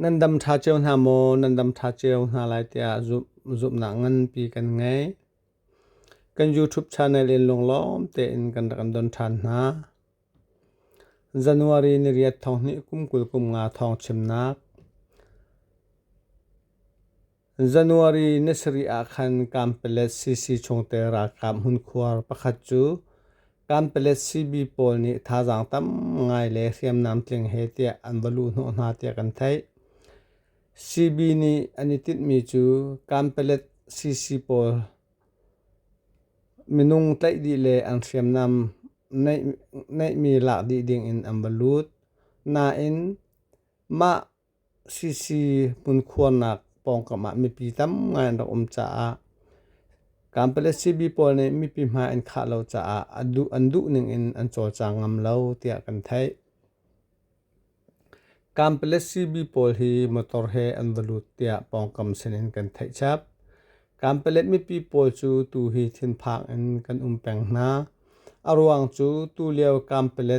Nan dam ṭha cio hna maw? Nan dam ṭha cio hna lai tiah zumhnak nganpi kan ngei. Kan YouTube channel in lunglawm tein kan rak kan don ṭhan hna. January ni riat thawng hnih kum kul kum nga thawng chimnak. January ni sarih ah khan Kampala CC chungte ralkap hmunkhuar pakhat cu Kampala CB pawl nih thazaang tam ngai le hriamnam tling he tiah an va luh hnawh hna tiah kan theih. CB nih an i tinhmi cu Kampala CC pawl minung tlaih dih le an hriamnam neihmi lak dih ding in an va lut. Nain mah Sisi hmunkhuarnak pawngkam ah mipi tam ngai an rak um caah kampa le sibi pawl nih mipi hmai an khah lo caah an duh ning in an cawlcang ngam lo tiah kan theih. Kampa le sibi pawl hi motor he an va lut tiah pawngkam sinin kan theih chap. Kampa le mipi pawl cu tuhi thinphang in kan um peng hna. A ruang cu tulio kampa le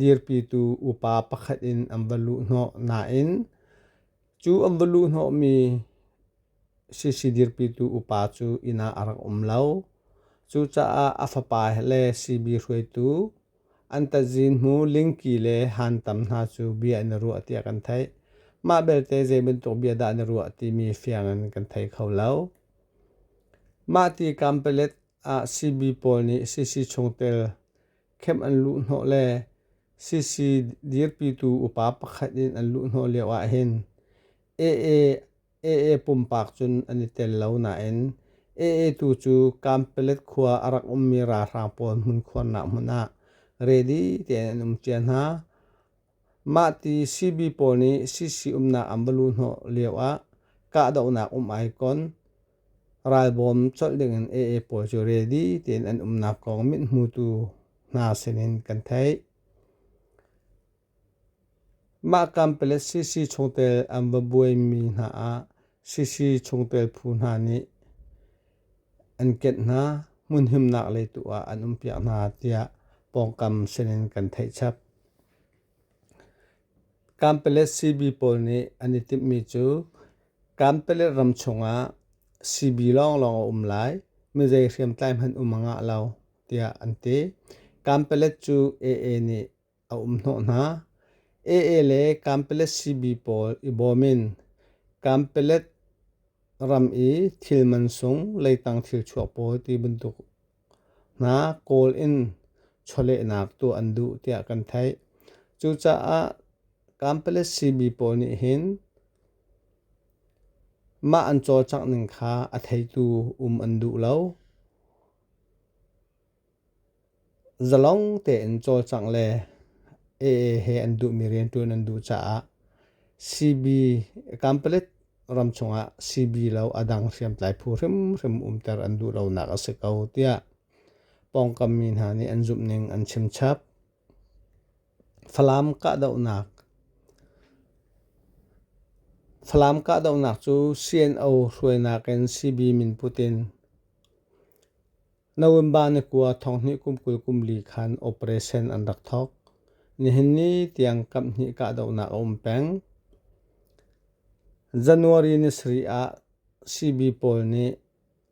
Dirpitu upa pakhat in an va luh hnawh nain cu an va luh hnawhmi sisi dirpitu upa cu inn ah a rak um lo. Cucaah a fapa le sibi hruaitu an tazin hmu lingki le hantam hna cu bia in a ruah tiah kan theih. Mah belte zei bantuk bia dah na ruah timi fiang in kan thei kho lo. Mah tikam palet ah sibi pawl nih sisi chungtel khem an luh hnawh le CC dirpitu upa pakhat in an luh hnawh lio ahhin AA AA pumpak cun an i tel lo nain AA tu cu Kampelet khua a rak ummi ralhrang pawl hmunkhuarnak hmun ah ready tein an um cia hna. Mahti CB pawl nih CC umnak an va luh hnawh lioah kahdohnak um ai kon. Ralbawm colh dingin AA pawl cu ready tein an umnak kong mithmutu hna sinin kan theih. Mah kampele CC chungtel an va buaimi hna ah CC chungtel phu hna nih an kenh hna, hmunhimnak le tu ah an umpiak hna tiah pawngkam sinin kan theih chap. Kampelet CB pawl nih an i timhmi cu Kampelet ram chungah CB lawnglawng a um lai, mizei hriamtlai hmanh um a ngah lo, tiah an ti. Kampelet cu AA nih a um hnawh hna. AA le Kampelet CB pawl i bawm in Kampelet ram i thil mansung leitang thil chuak pawl ti bantuk hna kawl in chawlehnak tu an duh tiah kan theih. Cucaah Kampelet CB pawl nih hin mah an cawcak ning kha a theitu um an duh lo. Zalong tein cawlcangh le AA he an duhmi rianṭuan an duh caah CB Kanpalit ram chungah CB lo a dang hriamtlai phu hrimhrim umter an duh lonak a si ko tiah pawngkam mi hna nih an zumh ning an chim chap. Falam kahdohnak Falam kahdohnak cu CNO hruainak in CB min put in November ni kua thonghnih kum kul kum li khan operation an rak thawk. Nihin ni tiang kam hnih kahdohnak a um peng. January ni sari ah CB pawl nih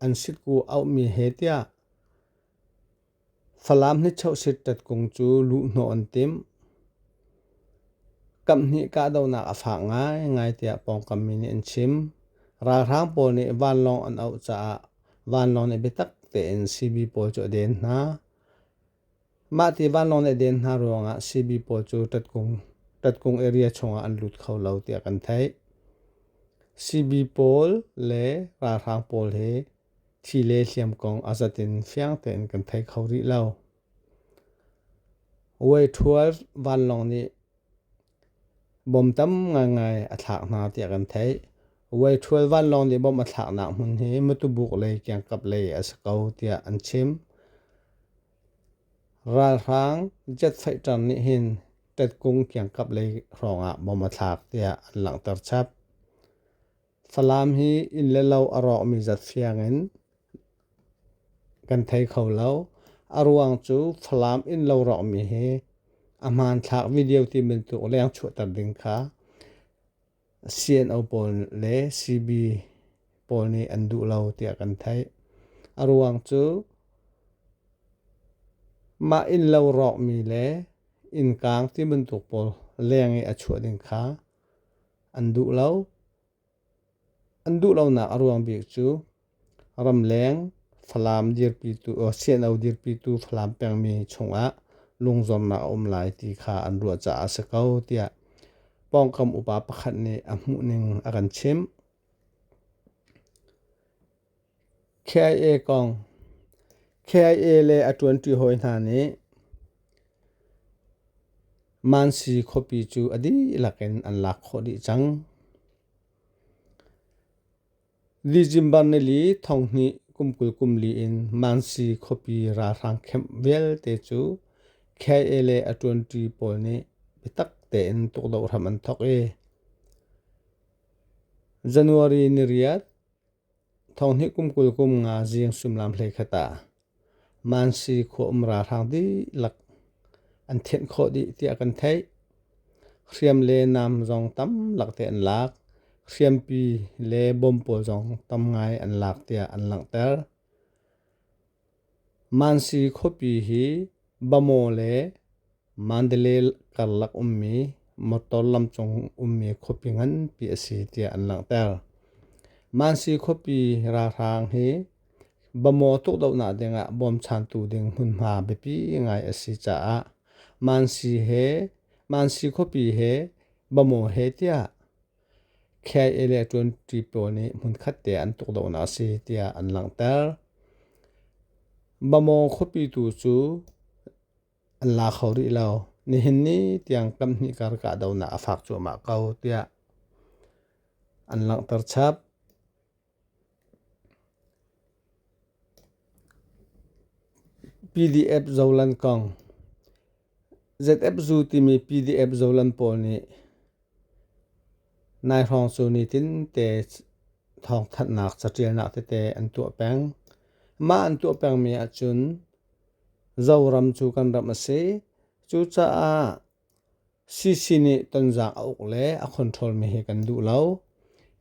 an sitku auhmi he tiah Falam nichosit tatkung cu luhhnawh an tim. Kam hnih kahdohnak a fak ngaingai tiah pawngkam mi nih an chim. Ralhrang pawl nih vanlawng an auh caah vanlawng nih biatak tein sibi pawl cu a den hna. Mah ti vanlawng nih a den hna ruangah sibi pawl cu ṭatkung, ṭatkung area chungah an lut kho lo tiah kan theih. Sibi pawl le ralhrang pawl hi thi le hliam kong a zatin fiang tein kan thei kho rih lo. Way 12 vanlawng nih Bom tam ngaingai a thlak hna tiah kan theih. Way12 vanlawng nih bom a thlaknak hmun hi Mutubuk lei kiangkap lei a si ko tiah an chim. Ralhrang jetfaighter nih hin Tetkung kiangkap lei hrawngah bom a thlak tiah an langhter chap. Falam hi inn le lo a rawkmi zat siangin kan thei kho lo. A ruang cu Falam innlo rawkmi hi a hmanthlak video ti bantuk leng chuahter ding kha CNO pawl le CB pawl nih an duh lo tiah kan theih. A ruang cu mah innlo rawkmi le innkang ti bantuk pawl leng i a chuah ding kha an duh lo. An duh lonak a ruang bik cu ramleng falam dirpitu CNO dirpitu Falam pengmi chungah lungzuamnak a um lai ti kha an ruah caah a si ko tiah pawngkam upa pakhat nih a hmuhning a kan chimh. KIA kong KIA le a ṭuanṭi hawi hna nih Mansi khuapi cu a dihlak in an lak khawh dih cang. December nili thong hnih kum kul kum li in Mansi khuapi ralhrang camp vialte cu KIA le a ṭuanṭi pawl nih biatak tein tukdoh hram an thawk i January ni riat Thonghnih kum kul kum nga zing suimilam hleikhat ah Mansi khua umra hrang dihlak an thenh khawh dih tiah kan theih. Hriam le nam zong tam lak te an lak. Hriampi le bawm pawl zong tam ngai an lak tiah an langhter. Mansi khuapi hi Bamaw le Mandalay karlak ummi motor lamcung ummi khuapi nganpi a si tiah an langhter. Mansi khuapi ralhrang hi Bamaw tukdohnak dingah bawmchantu ding hmunhma biapi ngai a si caah Mansi he Mansi khuapi he Bamaw he tiah Khei le ṭuanṭi pawl nih hmunkhat te an tuk lonak a si tiah an langhter. Mamaw khuapi tu cu an la kho rih lo. Nihin ni tiang kam hnih kar kahdohnak a fak cuahmah ko tiah an langhter chap. PDF zolan kong ZF Zoo timi PDF zolan pawl nih nai hrawng cu nitin te thawngthanhnak caṭialnak tete an tuah peng. Mah an tuah pengmi ahcun Zoram cu kan ram a si. Cucaah CC nih tonzang a uk le a control mi hi kan duh lo.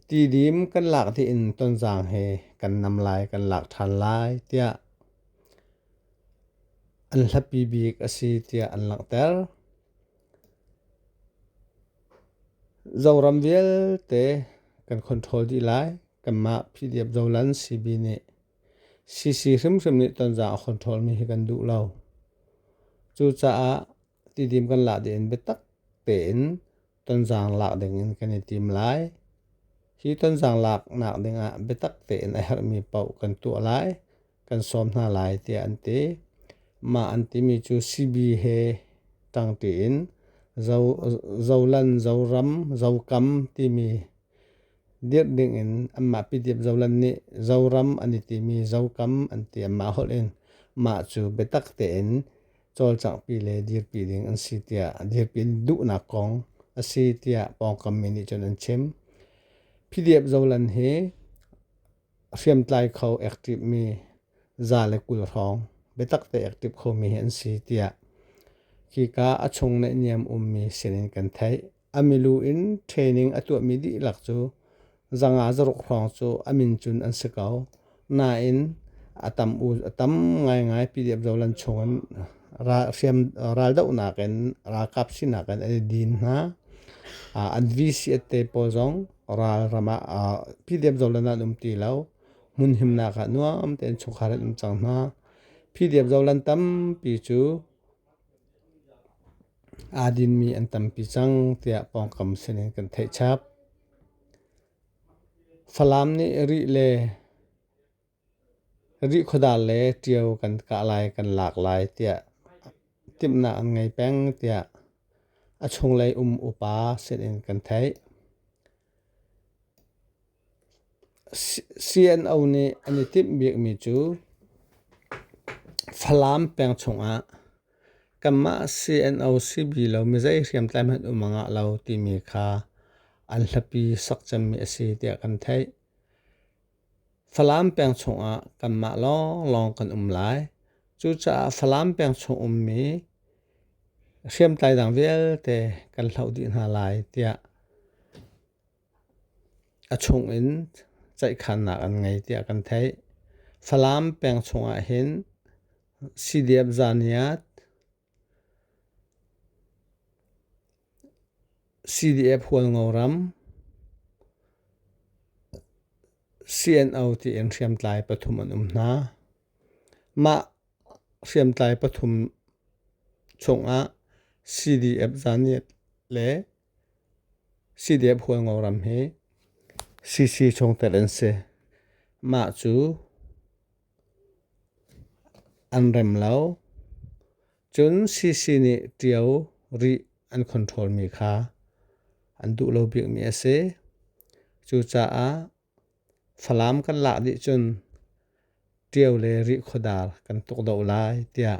Tidim kan lak dih in tonzang he kan nam lai kan lak ṭhan lai tiah an hlapi bik a si tiah an langhter. Zoram vialte kan control dih lai. Kanmah PDF Zolan CB nih CC hrimhrim nih tonzang a control mi hi kan duh lo. Cucaah tidim kan lak ding in biatak tein tonzang lak ding in kan i tim lai. Hi tonzang lak nak ding ah biatak tein a herhmi paoh kan tuah lai, kan sawm hna lai tiah an ti. Mah an timi cu CB he tang tiin zo, zolan, zoram, zokam timi dirh ding in anmah pitiap zolan nih zoram an i timi zokam an ti. Mah holh in mah cu biatak tein cawlcangpi le dirpi ding an si tiah a dirpi duhnak kong a si tiah pawngkam mi nih cun an chim. PDF zolan hi hriamtlai kho active mi za le kul hrawng biatak te active khomi hi an si tiah khika a chung neih niam ummi sinin kan theih A milu in training a tuahmi dihlak cu zanga zaruk hrawng cu a min cun an si ko. Nain a tam u a tam ngaingai PDF zolan chungin ral hriam raldohnak in ralkap sinak in an i din hna. Uh, an VCS te pawl zong ral ram ah uh, PDF zolan an um ti lo. Hmun himnak ah nuam tein chungkhar an um cang hna. PDF zolan tampi cu aa dinmi an tampi cang tiah pawngkam sinin kan theih chap. Falam nih rih le rih khuadar le ṭio kan kah lai kan lak lai tiah timhnak an ngei peng tiah a chunglei um upa sinin kan theih. CNO nih an i timh bikmi cu Falam peng chungah kanmah CNO si bi lo mi zei hriamtlai hmanh um a ngah lo timi kha an hlapi sak cemmi a si tiah kan theih. Falam peng chungah kanmah lawnglawng kan um lai. Cucaah Falam peng chung ummi hriamtlai dang vialte kan hloh dih hna lai tiah A chungin ceihkhannak an ngei tiah kan theih. Falam peng chungah hin Sidiap Zaniat, CDF Hualngoram, CNO tiin hriamtlai pathum an um hna. Mah hriamtlai pathum chungah CDF Zaniat le Sidep hualngo ram hi sisi chungtel an si. Mah cu an rem lo. Cun sisi nih ṭio rih an control mi kha an duh lo bikmi a si. Cucaah Falam kan lak dih cun ṭio le rih khuadar kan tuk deuh lai tiah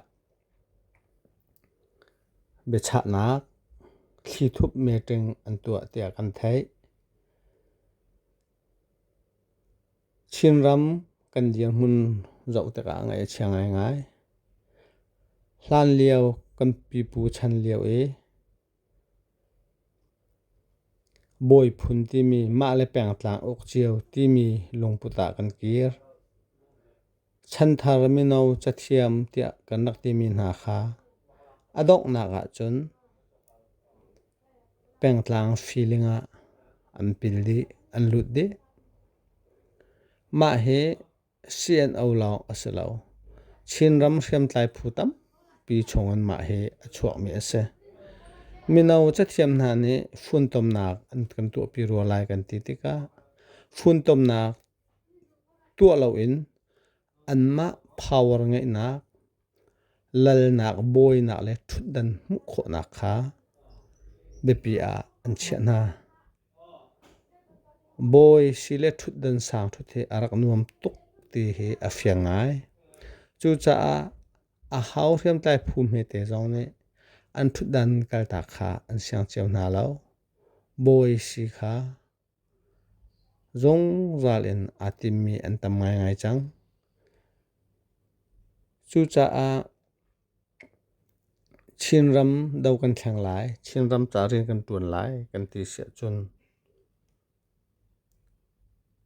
biachahnak thlithup meeting an tuah tiah kan theih. Chinram kan dirhmun zoh tikah ngaih a chia ngaingai. Hlanlio kan pipu chan lio i Bawi phun timi mah le pengtlang uk cio timi lungput ah kan kir. Chanthar mino cathiam tiah kan rak timi hna kha a donghnak ahcun pengtlang feeling ah an pil dih, an lut dih. Mah hi CNO lawng a si lo. Chinram hriamtlai phu tampi chungin mah hi a chuakmi a si. Mino cathiam hna nih funtomnak an kan tuahpi rua lai kan ti tikah funtomnak tuah loin anmah power ngeihnak lalnak bawinak le ṭhutdan hmuh khawhnak kha biapi ah an chiah hna. Bawi si le ṭhutdan sang ṭhut hi a rak nuam tuk ti hi a fiang ngai. Cucaah a hau hriamtlai phu hmete zong nih an ṭhutdan kaltak kha an siang cio hna lo. Bawi si kha Zungzal in aa timmi an tam ngaingai cang. Cucaah Chinram do kan thleng lai, Chinram ca rian kan ṭuan lai kan ti si ahcun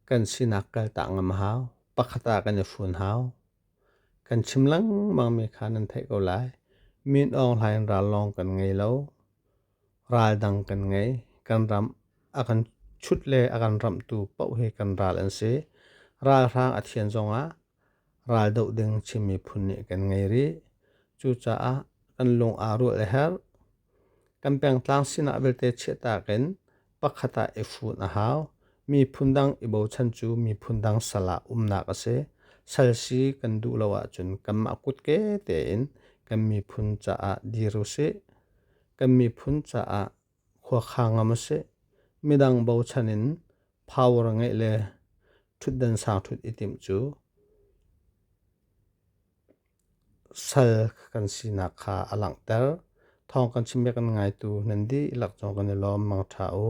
kan sinak kaltak ngam a hau. Pakhat ah kan i hrun hau. Kan chim lengmangmi kha nan theih ko lai. Min Aung Hlaing ral lawng kan ngei lo. Ral dang kan ngei. Kan ram a kan chut le a kan ramtu paoh hi kan ral an si. Ralhrang a thian zongah ral doh ding Chin miphun nih kan ngei rih. Cucaah kan lung aa ruah le her. Kan pengtlang sinah vialte chiahtak in pakhat ah i hrun a hau. Miphun dang i bochan cu miphun dang sal ah umnak a si. Sal si kan duh lo ahcun kanmah kutke tein kan miphun caah dir u sih. Kan miphun caah khuakha ngam u sih. Midang bochan in power ngeih le ṭhutdan sang ṭhut i timh cu sal kan sinak kha a langhter. Thawng kan chim bia kan ngaitu nan dih lak zong kan i lawm mangṭha u.